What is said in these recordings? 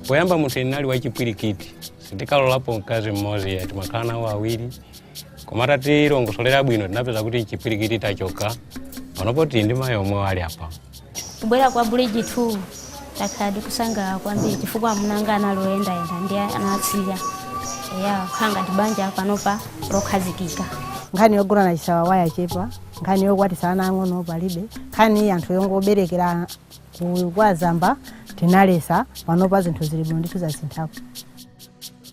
poyamba munthu ine ndinali wachipwirikiti sindikalorapo mkazi mmodzi ayi ndimakhala nawo awiri koma atatilongosolera bwino tinapeza kuti chipwirikiti chachoka panopo tili ndi mayi omwe ali apa kubwera kwa Bridge 2 takhala tikusangalala kwambiri chifukwa amunanga anali oyendayenda ndi anasiya eya kukhala ngati banja panopa lokhazikika nkhani yogona na mwachisawawa yachepa nkhani yokwatisa ana ang'ono palibe nkhani anthu yongoberekera ku- kwa zamba tinaletsa panopa zinthu zili bwino ndithu zasinthako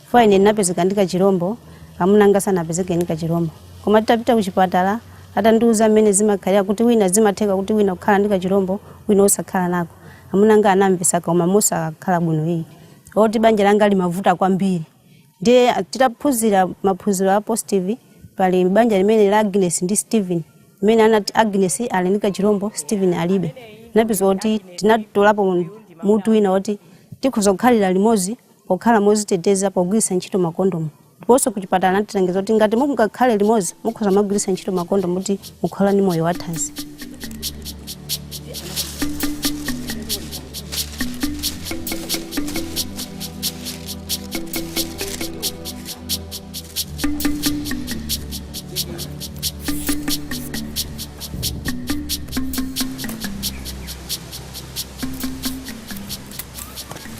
Chifukwa ine ndinapezeka ndi kachirombo, amuna anga sanapezeke ndi kachirombo. Koma titapita kuchipatala, atandiuza mmene zimakhalira kuti wina zimatheka kuti wina kukhala ndi kachirombo, wina osakhala nako. Amuna anga anamvetsa koma mosakhala bwino iyayi. Oti banja langa limavuta kwambiri. Ndiye ah, titaphunzira maphunziro a positive, pali banja limene la Agnes ndi Steven, mmene anati Agnes ali ndi kachirombo, Steven alibe. Napeza kuti tinatolapo mutu wina woti tikhoza kukhala limodzi pokhala moziteteza pogwiritsa ntchito makondomu ndiponso kuchipatala anatilangiza kuti ngati mungakhale limodzi mukhoza kumagwiritsa ntchito makondomu kuti mukhale ndi moyo wathanzi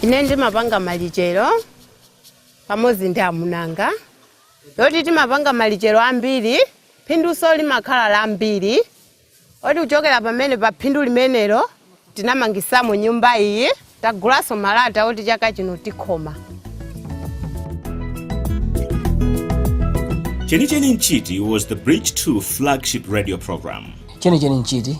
ine ndimapanga malichero pamodzi ndi amunanga yoti timapanga malichero ambiri phinduso limakhala lambiri moti kuchokera pamene pa phindu limenelo tinamangisamo nyumba iyi tagulaso malata oti chaka chino tikhoma Chenicheni Nchiti was the Bridge 2 flagship radio program. Chenicheni Nchiti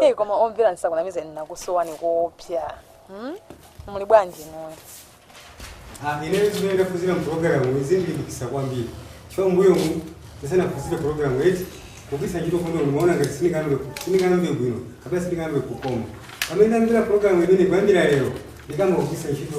Hey, koma omvera ndisakunamizeni ndinakusowani koopsa hmm? muli bwanji inuyo Ah, ine zimene ndaphunzira mupulogalamu zandilimbikitsa kwambiri chifukwa mbuyomu ndisanaphunzire pulogalamu eti kugwiritsa ntchito kondomu ndimaona ngati sindingamve sindingamve bwino kapena sindingamve kukoma pamene ndamvera pulogalamu imeneyi kuyambira lero ndikayamba kugwiritsa ntchito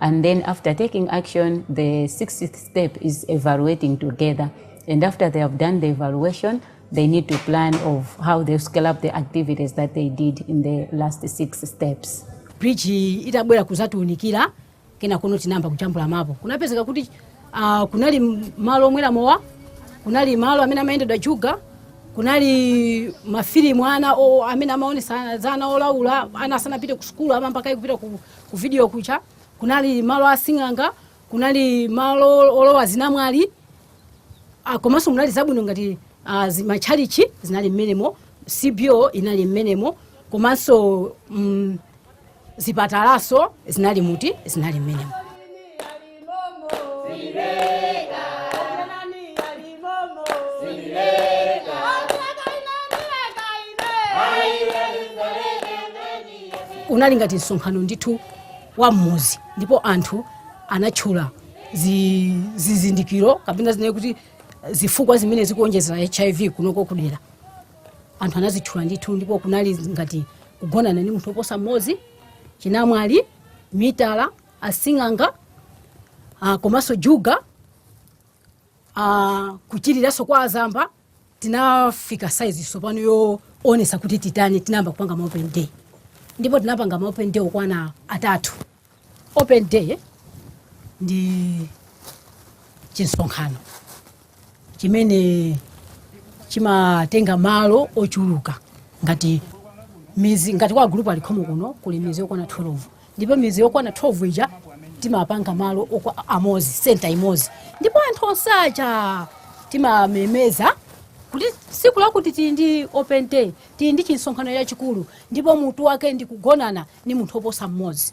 and then after taking action the sixth step is evaluating together and after they have done the evaluation they need to plan of how they scale up the activities that they did in the last six steps bridge itabwera kuzatiunikira kena kuno tinayamba kujambula mapo kunapezeka kuti uh, kunali malo omwera mowa kunali malo amene amatchoveredwa juga kunali mafilimu ana o- amene amaonesa zolaula ana asanapite ku sukulu ama mpaka kupita ku Ku vidiyo kuja kunali malo a sing'anga, kunali malo olowa zinamwali, ah, komanso munali zabwino ngati ah, zi- matchalichi zinali mmenemo, CBO inali mmenemo, komanso mm, zipatalaso zinali muti zinali mmenemo. unali ngati msonkhano ndithu wa mmuzi ndipo anthu anatchula zi- zizindikiro kapena zinaye kuti zifukwa zimene zikuonjezera hiv kunoko kudera anthu anazitchula ndithu ndipo kunali ngati kugonana ndi munthu oposa mmozi chinamwali mitala asing'anga ah, komanso juga ah, kuchiriraso kwa azamba tinafika saizi sopano yoonesa kuti titani tinayamba kupanga ma open day ndipo tinapanga ma open day okwana atatu open day ndi chimsonkhano chimene chimatenga malo ochuluka ngati mizi ngati kwa group alikhomo kuno kuli mizi yokwana 12 ndipo mizi yokwana 12 ija timapanga malo amozi senta imozi ndipo anthu onse aja timamemeza kuti siku lakuti tili ndi open day tili ndi chimsonkhano chachikulu ndipo mutu wake ndi kugonana ni munthu oposa mmozi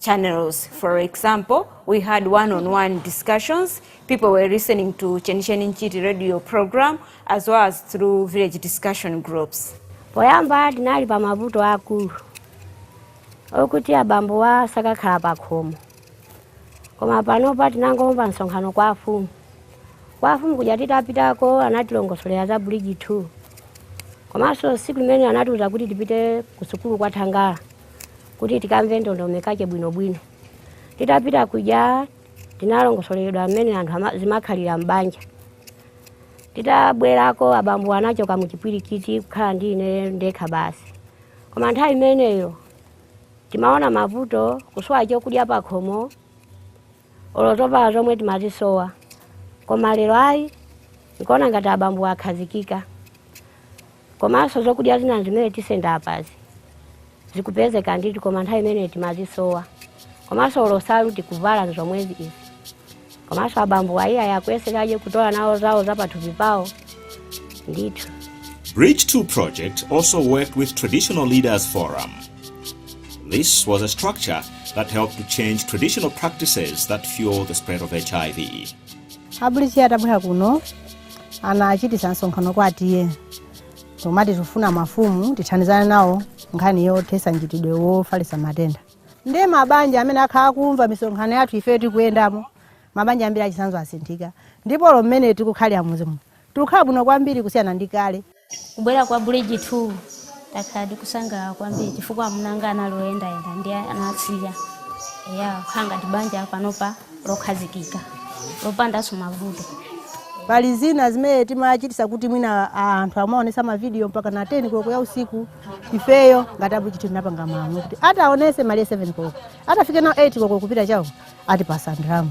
channels. For example, we had one-on-one discussions. People were listening to Chenicheni Nchiti radio program as well as through village discussion groups. poyamba tinali pa mavuto akulu okuti abambowa sakakhala pa khomo koma panopa tinangomva msonkhano kwa afumu kwa afumu kuja titapitako anatilongosolera za Bridge 2 komanso siku limene anatiuza kuti tipite ku sukulu kwa thangala kuti tikamve ndondomekache bwinobwino titapita kuja tinalongosoleredwa mmene anthu ama- zimakhalira m'banja titabwerako abambowa anachoka muchipwirikiti kukhala ndi ine ndekha basi koma nthawi imeneyo timaona mavuto kusowa chokudya pakhomo olo zovala zomwe timazisowa koma lero ayi ndikuona ngati abambowa akhazikika Komanso zokudya zina zimene tisenda pazi zikupezeka ndithu koma nthawi imene timazisowa. Komanso olo nsalu tikuvala nzomwezi izi. Komanso abambo ayiyayi akuyesekaje kutola nawo zawo za pathupi pawo ndithu. Bridge 2 project also worked with Traditional Leaders Forum. This was a structure that helped to change traditional practices that fuel the spread of HIV. A Bridge atabwera kuno anachititsa msonkhano kwa T/A timati tikufuna mafumu tithandizane nawo nkhani yothesa mchitidwe wofalisa matenda ndiye mabanja amene akhala akumva misonkhano yathu ifeyo tikuyendamo mabanja ambiri achitsanzo asinthika ndipo mmene tikukhalira m'midzimu tikukhala bwino kwambiri kusiyana ndi kale Kubwera kwa Bridge 2 takhala tikusangalala kwambiri chifukwa amuna anga anali oyendayenda ndiye anasiya eya tikukhala ngati banja panopa lokhazikika lopandanso mavuto pali zina zimene timachitisa kuti mwina anthu amaonesa mavidiyo mpaka na 10 koloko ya usiku ifeyo ngati a Bridge tinapanga malamulo kuti ataonesa malire 7 koloko atafike nawo 8 koloko kupita chawo atipasa ndalama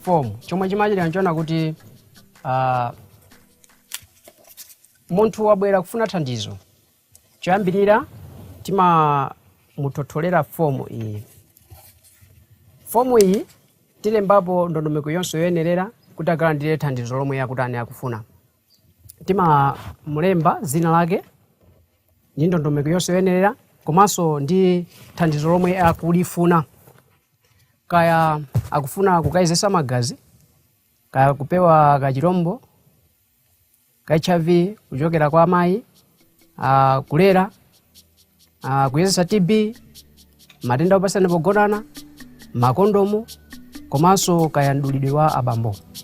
fomu chomwe chimachitika nchonena kuti ah, munthu wabwera kufuna thandizo choyambirira timamuthotholera fomu iyi fomu iyi tilembapo ndondomeko yonse yoyenerera kuti akalandire thandizo lomwe akutani akufuna timamulemba dzina lake ndi ndondomeko yonse yoyenerera komanso ndi thandizo lomwe akulifuna kaya akufuna kukayezesa magazi kaya kupewa kachilombo ka hiv kuchokera kwa mayi ah, kulera ah, kuyezesa tb matenda opatsirana pogonana makondomu komanso kaya mdulidwe wa abambo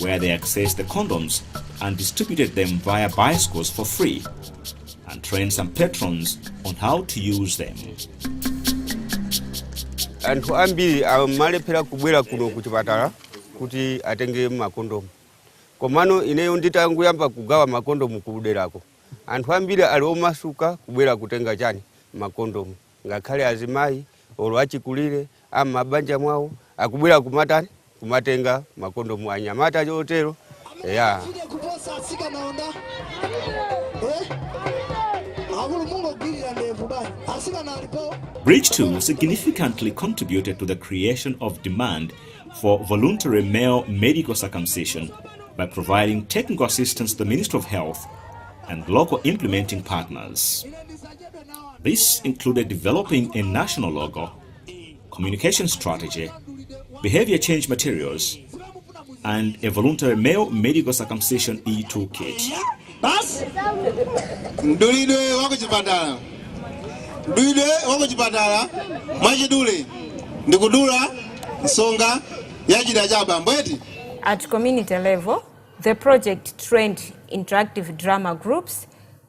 where they accessed the condoms and distributed them via bicycles for free and trained some patrons on how to use them. anthu ambiri amalephera kubwera kuno ku chipatala kuti atenge makondomu komano ineyo nditanguyamba kugawa makondomu kuderako anthu ambiri ali omasuka kubwera kutenga chani makondomu ngakhale azimayi olo achikulire a m'mabanja mwawo akubwera kumatani kumatenga makondomu anyamata chotero eya Fide kuposa atsikana onda eh? akulu mungogwirira ndevu bani atsikana alipo Bridge 2 significantly contributed to the creation of demand for voluntary male medical circumcision by providing technical assistance to the Ministry of Health and local implementing partners. ine ndisachedwe This included developing a national logo, communication strategy, behavior change materials, and a voluntary male medical circumcision e toolkit. basi mdulidwe wa kuchipatala mdulidwe wa kuchipatala mwachidule ndi kudula nsonga ya chida cha abambo eti At community level, the project trained interactive drama groups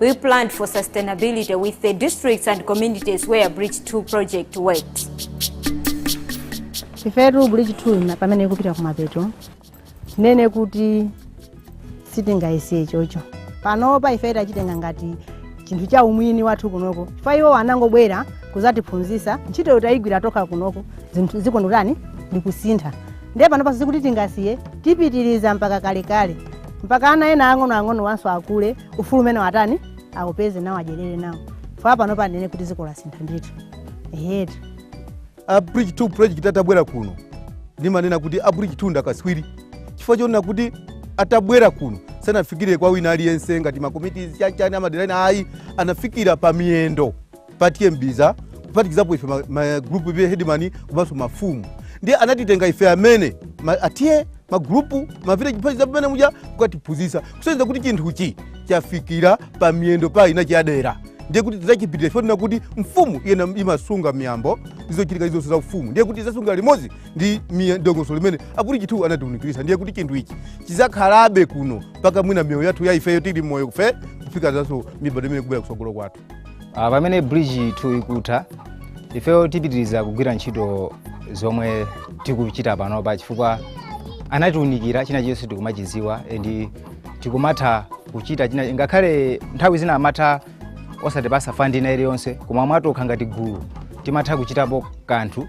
We planned for sustainability with the districts and communities where Bridge 2 project worked. ifetu bridge 2 na- pamene ikupita kumapeto tinene kuti sitingayisiye chocho panopa ife tachitenga ngati chinthu cha umwini wathu kunoko chifukwa iwo anangobwera kuzatiphunzisa ntchito tayigwira tokha kunoko zinthu zikundotani ndikusintha ndiye panopa sikuti tingasiye tipitiriza mpaka kalekale mpaka ana ena ang'onoang'onowanso akule ufulu umene watere awupeze nawo adyerere nawo fala pano panene kuti dziko lasintha ndithu ehetu a bridge 2 project atabwera kuno ndimanena kuti a bridge 2 ndakaswiri chifukwa chonena kuti atabwera kuno sanafikire kwa wina aliyense ngati makomiti chachani amadera ena ayi anafikira pa miyendo pa T/A Mbiza kuphatikizapo ife ma- magrupu village hedimani komanso mafumu ndiye anatitenga ife amene ma- a T/A magrupu mavillage kuphatikiza pamene muja kukatiphunzitsa kusonyeza kuti chinthuchi chafikira pa miyendo pa ina chadera ndiye kuti tidzachipitira ife tina kuti mfumu iyeyo imasunga miyambo ndizochitika izonse za ufumu ndiye kuti idzasunga limodzi ndi miye- dongosolo limene a Bridge 2 anatiunikirisa ndiye kuti chinthu ichi chidzakhalabe kuno mpaka mwina miyoyo yathu ya ifeyo tili moyo kufe kufika zanso mibadwo imene ikubwera kusogolo kwathu Ah, pamene bridge 2 ikutha ifeyo tipitiriza kugwira ntchito zomwe tikuchita panopa chifukwa anatiunikira china chilichonse tikumachidziwa and tikumatha kuchita ngakhale nthawi zina amatha osatipasa fandi ina iliyonse koma mwatokha ngati gulu timatha kuchitapo kanthu